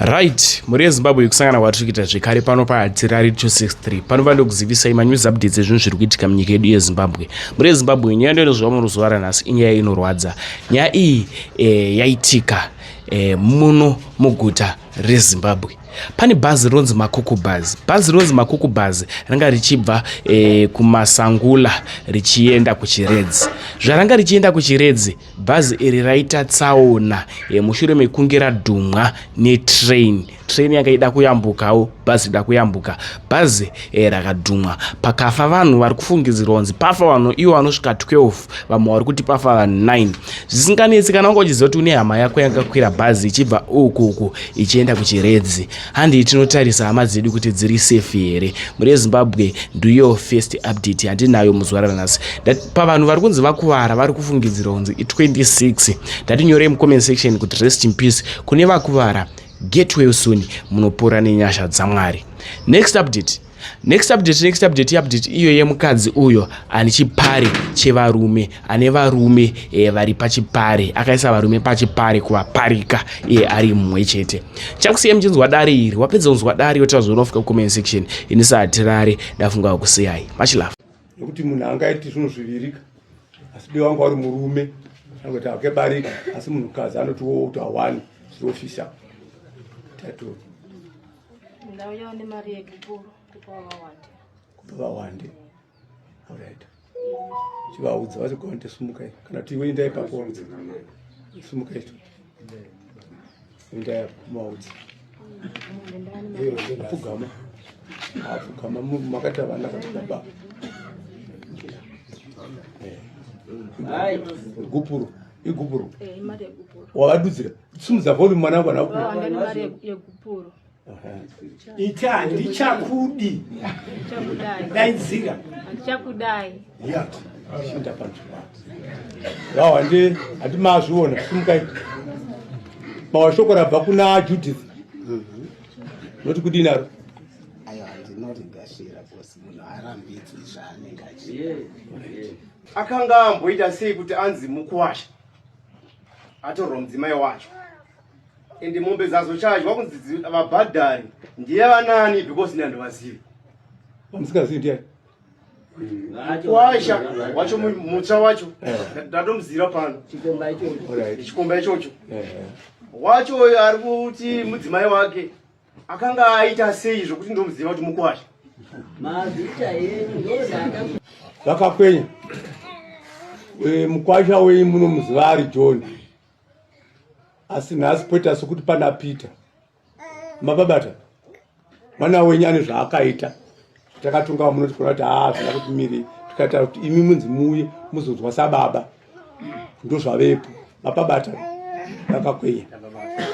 right mhuri yezimbabwe yekusangana kwatiri kuita zvekare pano pahadzirari 263 panova ndokuzivisai manews updates ezvinhu zviri kuitika munyika yedu yezimbabwe mhuri yezimbabwe nyaya ndoinozova muno zuva ranhasi inyaya inorwadza nyaya iyi e, yaitika e, muno muguta rezimbabwe pane bhazi rinonzi makuku bhazi bhazi rinonzi makuku bhazi ranga richibva e, kumasangula richienda kuchiredzi zvaranga richienda kuchiredzi Bhazi iri raita tsaona mushure mekunge radhumwa netrain. Train yanga ida kuyambukawo, bhazi ida kuyambuka. Bhazi eh, rakadhumwa pakafa vanhu vari kufungidzirwa kunzi pafa vanhu iwo vanosvika 12 vamwe vari kuti pafa vanhu 9 zvisinganetsi kana wanga uchiziva kuti une hama yako yakakwira bhazi ichibva uku uku ichienda kuchiredzi Handei tinotarisa hama dzedu kuti dziri safe here. Mhuri yeZimbabwe ndiyo first update yatinayo muzuva ranhasi. Pavanhu vari kunzi vakuvara vari kufungidzira kunzi i26. Ndatinyorei mucomment section kuti rest in peace kune vakuvara. Get well soon munopora nenyasha dzaMwari. Next update. next update next update update iyo yemukadzi uyo ane chipare chevarume ane varume e, vari pachipare akaisa varume pachipare kuvaparika iye eh, ari mumwe chete chakusiya muchinzwa dare iri wapedza kunzwa dare yotaura zvaunofika kucomment section ini saatirare ndafunga kusiyai much love nekuti munhu angaiti zvinhu zvivirika asi be wanga wari murume anoti akebarika asi munhukadzi anotiwo kuti awani zvirofisa tatoo ndauyawo nemari yekikuru kupa vawande kupa vawande orit chivaudza vati konde sumukai kana kuti iwe indai pakuvaudza sumukai to indai kumaudza apfugama apfugama makati avana kati baba igupuro igupuro wavadudzira Simudza volume mwana wangu anaku. Vana vane mari yekupuro. Ita handichakudi. Ndichakudai. Daidzira. Handichakudai. Yeah. Shinda panzvimbo. Vao handi handi mazviona simukai. Mawashoko rabva kuna Judith. Mhm. Noti kudini naro? Ayo handinoti ndashira kosi munhu arambidzwi zvaanenge achiita. Akanga amboita sei kuti anzi mukuwasha? atorwa mudzimai wacho ende mombe dzazochajwa kunzi vabhadhari ndiye vanani because nandi vazivi vamusikazivi ndiye kwasha wacho mutsva wacho eh. ndatomuzira pano chikomba ichocho eh, eh. wacho uyo ari kuti mudzimai wake Akanga aita sei zvokuti ndomuziva kuti mukwasha? Mazita yenyu ndozaka. Vakakwenya. Eh mukwasha wenyu munomuziva ari John. Asi nhasi poita sokuti pana Peter. Mababata. Mwana wenyu ane zvaakaita. takatunga vamuno tikaona kuti haa zvina kuti miri tikataura kuti imi munzi muuye muzonzwa sababa ndozvavepo mapabata vakakwenya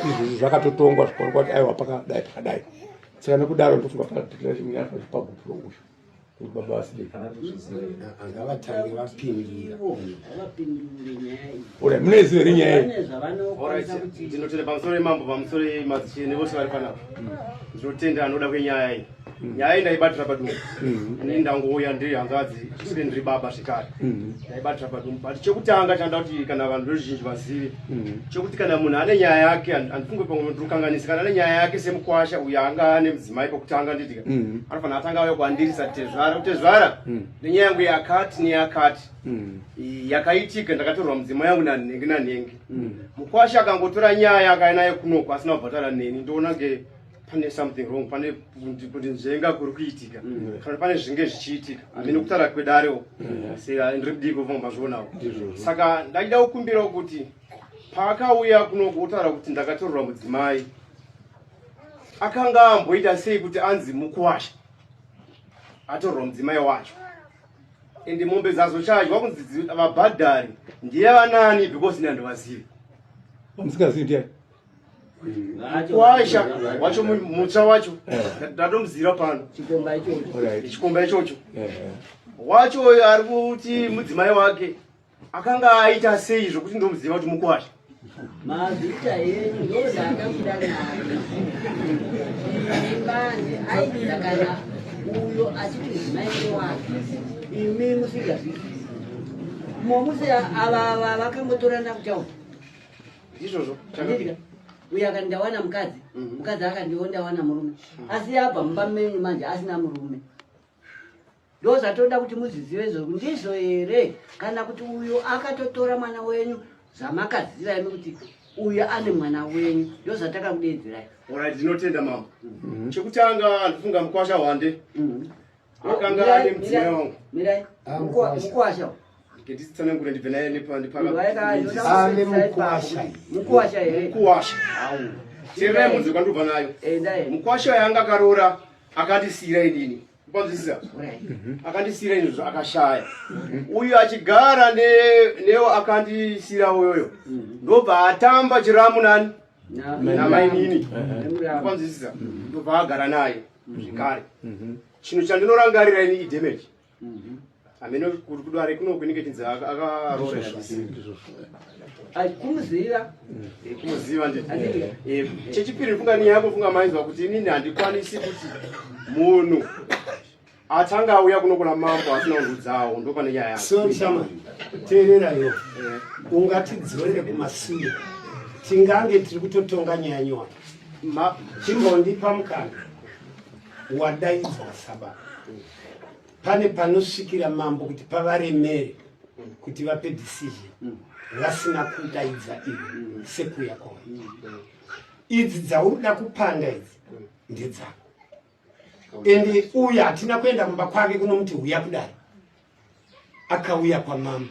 izvozvo zvakatotongwa zvikaonekwa kuti aiwa pakadai pakadai saka nekudaro ndofunga paaaapagupulo uyu baba vasideangavatange vapindira ora munezive iri nyaya ndinotenda pamusoro yemambo pamusoro yemadzishene vose vari panapa ndinotenda anoda kwenyaya iyi nyaya iyi ndaibatira padumbu mm-hmm. ini ndangouya ndiri hanzvadzi zvisiri ndiri baba zvekare mm-hmm. ndaibatira padumbu but chekutanga chanda kuti kana vanhu veruzhinji vazive mm-hmm. chekuti kana munhu ane nyaya yake andifunge pamwe ndirukanganisi kana ane nyaya yake semukwasha uyo anga ane mudzimai pokutanga nditika anofanira atanga auya kuandirisa tezvara kutezvara nenyaya yangu yakati neyakati yakaitika ndakatorwa mudzima yangu nanhenge nanhenge mukwasha akangotora nyaya akainayo kunoko asina kubhatara neni ndoona ke pane something wrong pane kuti nzvenga kuri kuitika mm. kana pane zvinge zvichiitika mm. amene kutaura kwedare uko mm. saka ndiri kudii kuvanga mazvionawo saka ndaida kukumbirawo kuti paakauya kunoku otaura kuti ndakatorora mudzimai akanga amboita sei kuti anzi mukuwasha atorora mudzimai wacho ende mombe dzazo chaji wakunzi vabhadhari ndiye vanani because ini handivazivi vamusingazivi ndiani kwaisha wacho mutsva wacho ndatomuzira pano chikomba ichocho wacho ari kuti mudzimai wake akanga aita sei zvokuti ndomuziva kuti mukwasha mazita enyu ndozakabuda nayo imanje aida kana uyo achiti mudzimai wake imi musingazvizii momuse ava vakambotorana kutaura ndizvozvo chandiri uyo akati ndawana mukadzi mhm. mukadzi akandiwo ndawana murume mhm. asi abva mumba menyu manje asina murume ndo zvatoda kuti muzvizive izvozvo ndizvo here kana kuti uyo akatotora mwana wenyu zvamakaziva imi kuti uyo ane mwana wenyu ndo zvataka kudeedzerai orit ndinotenda mama mhm. chekutanga ndifunga mukwasha hwande akanga ane mudzimai wangu mirai Ah, mukwasha. mukwasha nditsanangure ndibve naye munhu waeka Ah, ne mukwasha. mukwasha here mukuwasha teerai munzwe kwandobva nayo enda here mukwasha yanga akaroora akandisiira inini kwanzwisisa Urai. akandisiira inini zva- akashaya uyu achigara ne- newo akandisiira uyoyo ndobva atamba chiramu nani Na- namainini nemuramba. kwanzwisisa ndobva agara naye mhm. zvekare mhm. chinhu chandinorangarira ini idamage mhm. amene kuti kudare kuno kunenge chinzi akaroreakumuzira kumuziva eh, ndii eh, chechipiri funga ni yako funga mainzwa kuti inini handikwanisi kuti munhu atanga auya kunokona mambo asina kundudzawo ndo pane nyaya yake so chama teererayo eh. ungatidzorere kumasure tingange tiri kutotonga nyaya nyowani chimbondipa mukana wadaidzwa saba pane panosvikira mambo kuti pavaremere kuti vape decision mm. vasina kudaidza ivo sekuya kwavo idzi dzauri da kupanda idzi ndedzako ende uya hatina kuenda kumba kwake kunomuti huya kudari akauya kwamama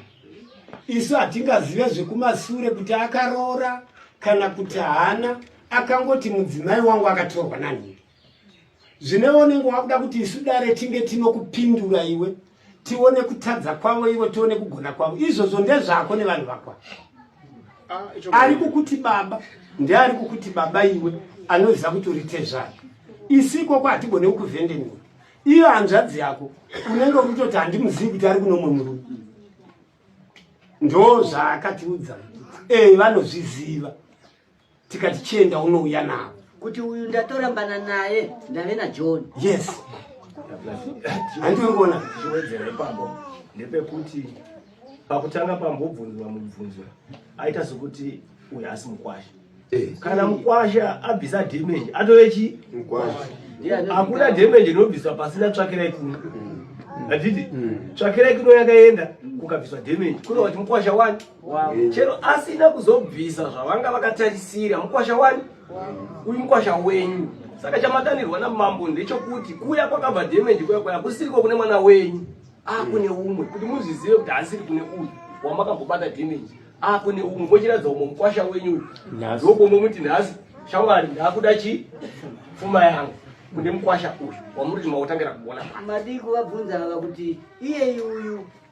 isu hatingazive zvekumasure kuti akaroora kana kuti haana akangoti mudzimai wangu akatorwa nanhingi zvine onenge wakuda kuti isu dare tinge tinokupindura iwe tione kutadza kwavo ivo tione kugona kwavo izvozvo ndezvako nevanhu vakwa ah, ari kukuti baba ndeari kukuti baba iwe anoziva kuti uri tezvaro isi ikoko hatigone kukuvhendeniwa iyo hanzvadzi yako unenge ukutoti handimuzivi kuti ari kunomwe murume ndo zvaakatiudza ee vanozviziva tikati chienda unouya navo kuti uyu ndatorambana naye ndave najohn yes handiongona chiwedzero ipapo ndepekuti pakutanga pambobvunzwa mubvunzwa aita sokuti uyu asi mukwasha eh. kana mukwasha abvisa damage atove chi hakuna damage inobviswa pasina tsvakirai kuno mm. hatiti mm. tsvakirai kuno yakaenda kukabviswa damage kuno kuti mukwasha wani wow. chero asina kuzobvisa zvavanga vakatarisira mukwasha wani wow. uyu mukwasha wenyu saka chamadanirwa namambo ndechokuti kuya kwakabva damage kuya kwaya kusiriko kune mwana wenyu akune ah, umwe kuti muzvizive kuti asiri kune uyu wamakambobata damage akune ah, umwe mochiratidza umwe mukwasha wenyu uyu ndokomwe muti nhasi shamwari ndakuda chi pfuma yangu kune mukwasha uyu wamuri kuti makutangira kuona madii kuvabvunza ava kuti iyeyi uyu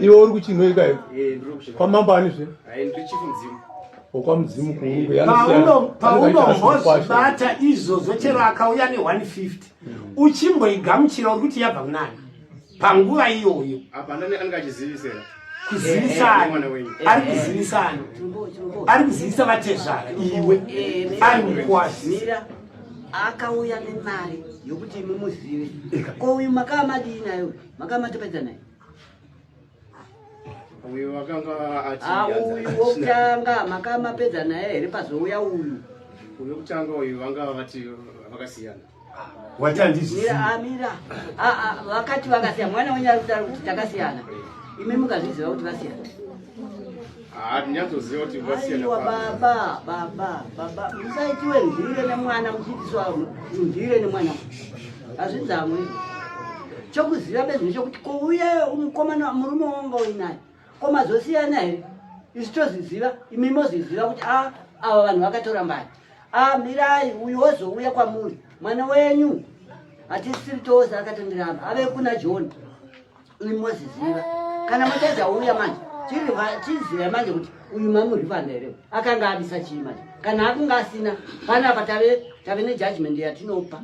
iwe uri kuchinhoi kayo kwamambo ani zve wokwamudzimu kuunombozvibata izvozvo chero akauya ne150 uchimboigamuchira uri kuti yabva kunani panguva iyoyo kuzivisana ari kuzivisana ari kuzivisa vatezvara iwe ari mukwazira akauya nemari yokuti imi muzive ko uyu makaa madii nayo makaa matopedza naye uyu wakanga auyu ah, wokutanga makaa mapedza naye here pazouya uyu uyu wokutanga uyu vanga vati vakasiyana watandizviamira ah, ah, vakati vakasiyana mwana wenyu ari kutaura kuti takasiyana imi mukazviziva kuti vasiyana aiwa baba baba baba musaitiwe mhire nemwana muchiitiswa mhire nemwana hazvidzamwe chokuziva bezvino chokuti kouye mukomana murume wanga uinaye ko mazosiyana here isu tozviziva imi mozviziva kuti a ah, ava vanhu vakatora mbari a ah, mirai uyu wozouya kwamuri mwana wenyu hatisiri tose akatondiramba ave kuna john ini moziziva kana mutadza uya manje chiziva manje kuti uyu mamurivanda here akanga abisa chii manje kana akunga asina panapa tave tave nejudgment yatinopa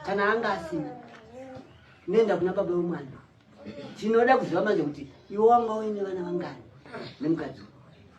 kana anga asina nenda kuna baba wemwana tinoda kuziva manje kuti iwe wanga uine vana vangani nemukadzi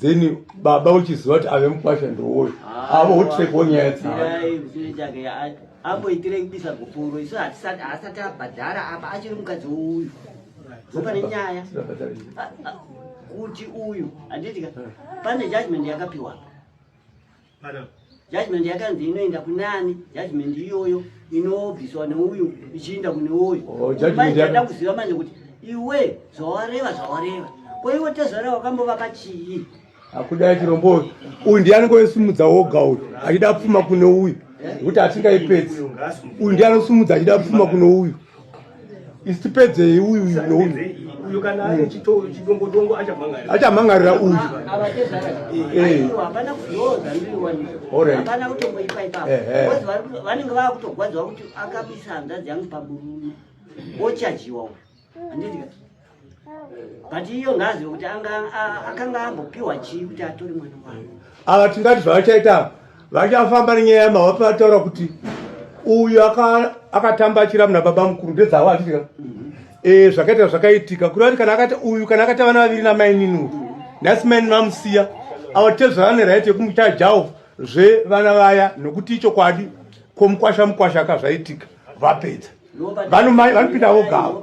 then baba uchiziva kuti ave mukwasha ndowoyo avo hotrepo nyaya dzaaamboitire kubisa gupuro isu haasati abhadhara apa achiri mukadzi uyu zopane nyaya kuti uyu handitika pane judgment yakapiwa apa judgment yakanzi inoenda kunani judgment iyoyo inobviswa neuyu ichiinda kune uyu oh, da kuziva manje kuti iwe zvawareva zvawareva ko iwe tezvara wakambovaka chii akudai chirombo uyu ndiye anenge oisimudza woga uyu achida pfuma kune uyu nekuti atingaipedzi uyu ndiye anosumudza achida pfuma kune uyu isi tipedzei uyu uyu kana ari chidongodongo achamhangarira achamhangarira uyu hapana kutomboipa ipapo vanenge vava kutogwadzwa kuti akabisa hanzvadzi yangu paburume wochajiwa uyu handiti but iyo ngazive kuti akanga ambopiwa chii kuti atori mwana wavo ava tingati zvavachaita ava vachafamba nenyaya yamava pavataura kuti uyu akatamba achira muna baba mukuru ndedzavo achitika mhm. e, zvakaita zvakaitika kuri vati kana akati uyu kana akati vana vaviri namainini uyu nhasi maini vamusiya ava tezvava neraiti yekumuita javo zvevana vaya nokuti ichokwadi komukwasha mukwasha ka zvaitika vapedza vanomai vanopinda vogavo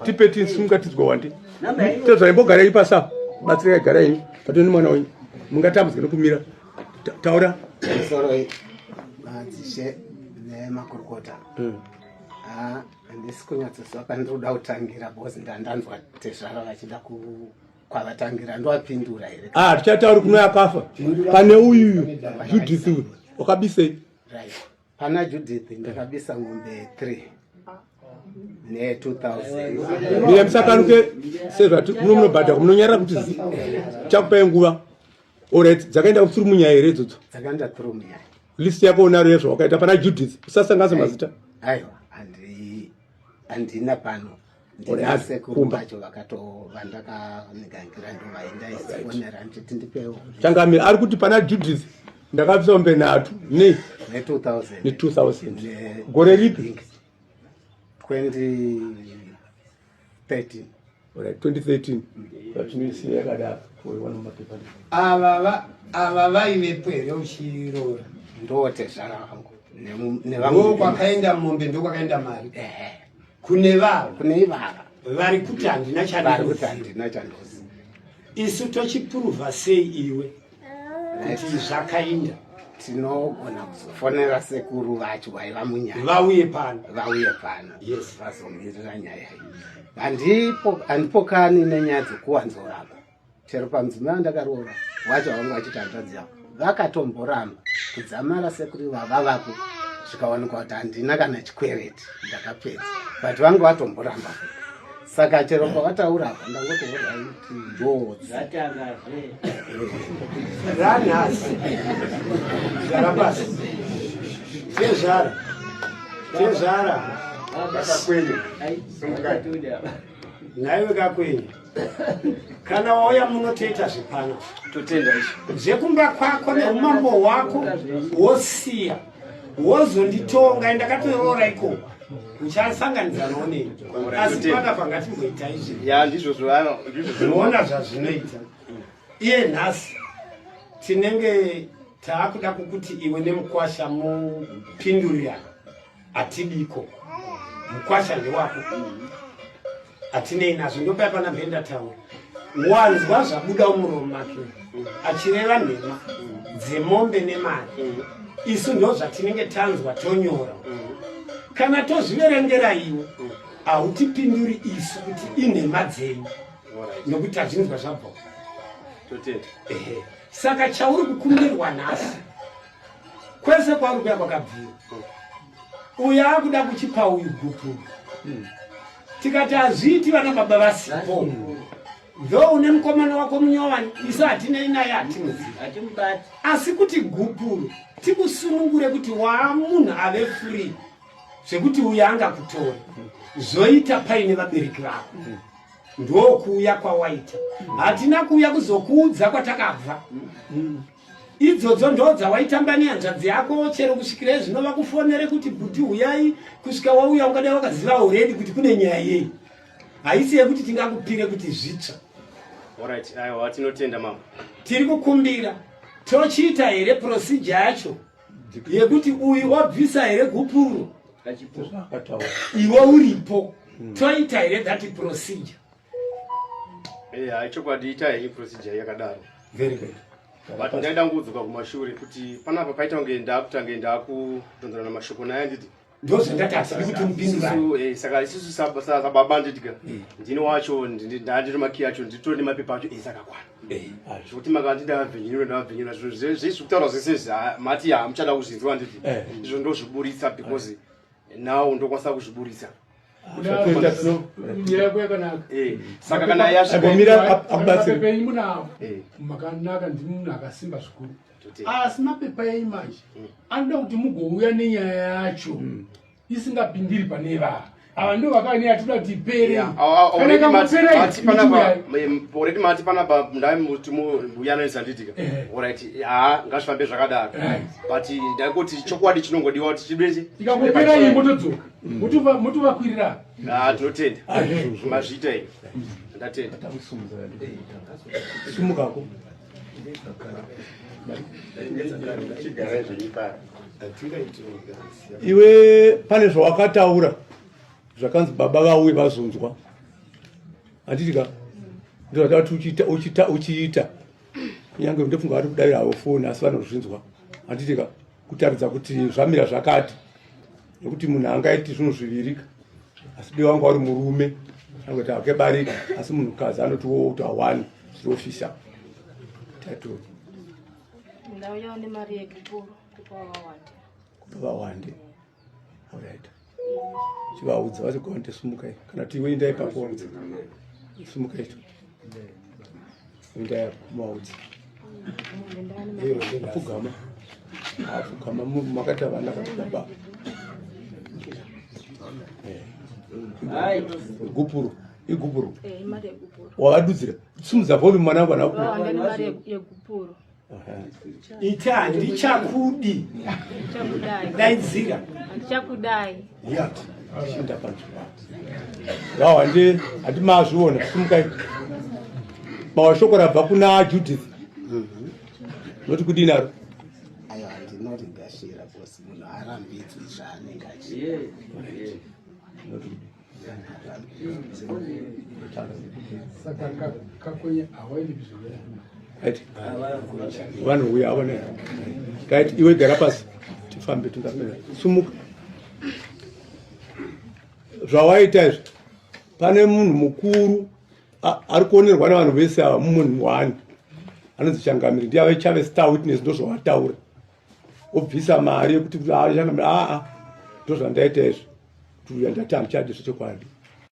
tipe tisimungatidzwa wandi tedzai mbogarei pasa batsirai garai patoni nemwana wenyu mungatambudzika nekumira taura soroi madzishe nemakurukota hmm. handisi kunyatsoziva pane ndiri kuda kutangira bcause ndandanzwa tezvara vachida kwavatangira ndoapindura here ah tichatauri kuno yakafa pane uyu judith uyu wakabisei right pana judith ndakabisa ngombe 3 ne 2000 mire musakanuke sezvati muno munobhadhako munonyarira kuti zi chakupai nguva orit dzakaenda kutsuri munyaya here idzodzo dzakaenda tsuri munyaya list yako unaro yezvo wakaita pana judith usasanganisa mazita aiwa handina pano ndinase kumba cho vakatovandakandigangira ndovaendaifonera nditi ndipewo changami ari kuti pana judith ndakabvisa mombe nhatu ne ne 2000 gore ripi 2013 ava vaivepo here uchiroora ndotezvara vangu nevangu kwakaenda mombe ndokwakaenda mari kune vava kune ivava vari kuti handina chavari kuti handina chandozi isu tochipuruvha sei iwe kuti zvakainda tinogona kuzofonera sekuru vacho vaiva munyaya vauye pano vauye pano yes vazomirira nyaya iyi handipo handipokani nenyaya dzekuwanzorapa chero pamudzimai wandakaroora wacho vanga vachiti hanzvadzi yavo vakatomboramba kudzamara sekuri vava vako zvikawanikwa kuti handina kana chikwereti ndakapedza but vanga vatomboramba saka chero pavataura apa ndangotouraiti njozi ranhasi zvara pasi chezvara chezvara akakwenya nhaiwe kakwenyu kana wauya muno toita zvepano totenda izvo zvekumba kwako neumambo hwako wosiya wozonditonga e ndakatoroora ikoko uchasanganidza noonei asi pana pangatimboita izvi ya ndizvo zvivano ndizvo zvinoona zvazvinoita iye nhasi tinenge taakuda kukuti iwe nemukwasha mupindurirana atidiko mukwasha ndewako atinei nazvo ndopai pana mhenda taura wanzwa zvabuda umuromo make achireva nhema dzemombe nemari isu ndo zvatinenge tanzwa tonyora kana tozviverengera iwe hautipinduri isu kuti inhema dzenyu nokuti tazvinzwa zvabva saka chauri kukumbirwa nhasi kwese kwauri kuya kwakabvira uyu akuda kuchipa uyu gupu hmm. tikati hazviiti vana baba vasipo ndo une mukomana wako munyowani isu hatinei naye hatimuzii asi kuti gupuro tikusunungure kuti waa munhu ave free zvekuti uya angakutora zvoita paine vabereki vako ndokuuya kwawaita hatina kuuya kuzokuudza kwatakabva idzodzo ndo dzawaitamba nehanzvadzi yako chero kusvikira izvino vakufonere kuti bhuti huyai kusvika wauya ungadai wakaziva already kuti kune nyaya yei haisi yekuti tingakupire kuti zvitsva Alright, aiwa tinotenda mama. Tiri kukumbira tochiita here procedure yacho yekuti uyu wabvisa here gupuro iwe uripo hmm. toita here that procedure Eh, hai chokwadi itai hii procedure yakadaro. Very good. But ndaida ngudzoka kumashure kuti panapa paita kunge ndakutange ndakudonzerana mashoko naye anditi ndozvandatasa nekuti mupindurani eh, saka isusu sababa ndidya eh. ndini wacho ndandiri makiyi acho nditori nemapepa acho ese akakwana eh. ah, zvekuti makati ndavhenyenura ndavhenyenura zvekutaura zvese ah, mati hamuchada kuzvinzwa nditi izvo ndozviburitsa because now ndokwanisa kuzviburitsa makanaka ndimi munhu akasimba zvikuru asi mapepa enyu manje mm. anoda kuti mugouya nenyaya yacho mm. isingapindiri pane ivava ava ndo vakane atida kuti ipere oredi mati panapa ndai muti mbuya anoisa nditika orit haa ngazvifambe zvakadaro but ndaikuti chokwadi chinongodiwa kuti chibese ikangopera iyi motodzoka mutovakwirira ah, tinotenda mazviita ii ndatenda sumukako iwe pane zvawakataura zvakanzi baba vauye vazonzwa handitika ndozvati uchiita uchiita uchiita kunyange ndofunga vari kudavira havo foni asi vanozvinzwa handitika kutaridza kuti zvamira zvakati nekuti munhu angaiti zvinhu zvivirika asi dei wanga wari murume angoita hake barika asi munhukadzi anoti wo kuti awani zviri ofisa tatoo ndauyawo nemari yekupuro kupa vawande kupa vawande chivaudza vati gonde sumukai kana kuti iwe indai pako waudza sumukai tu indai maudza apfugama apfugama makati avana kakudaba gupuro igupuro wavadudzira simudza volume mwana vana gupuro ita handichakudi daidzira handichakudai shinda panzvimbo yao handi handi mazviona simukai mawa shoko rabva kuna judith noti kudii naro ndinorigasira bcause munhu arambidzwi zvaanenge achii vanhu uya ava ne right iwe gara pasi tifambe tingapera sumuka zvawaita izvi pane munhu mukuru ari kuonerwa nevanhu vese ava mumunhu wani anonzi changamiri ndiye ave chave star witness ndozvawataura obvisa mari yekuti aa ndozvandaita izvo kuti uya ndati handichadi zvechokwadi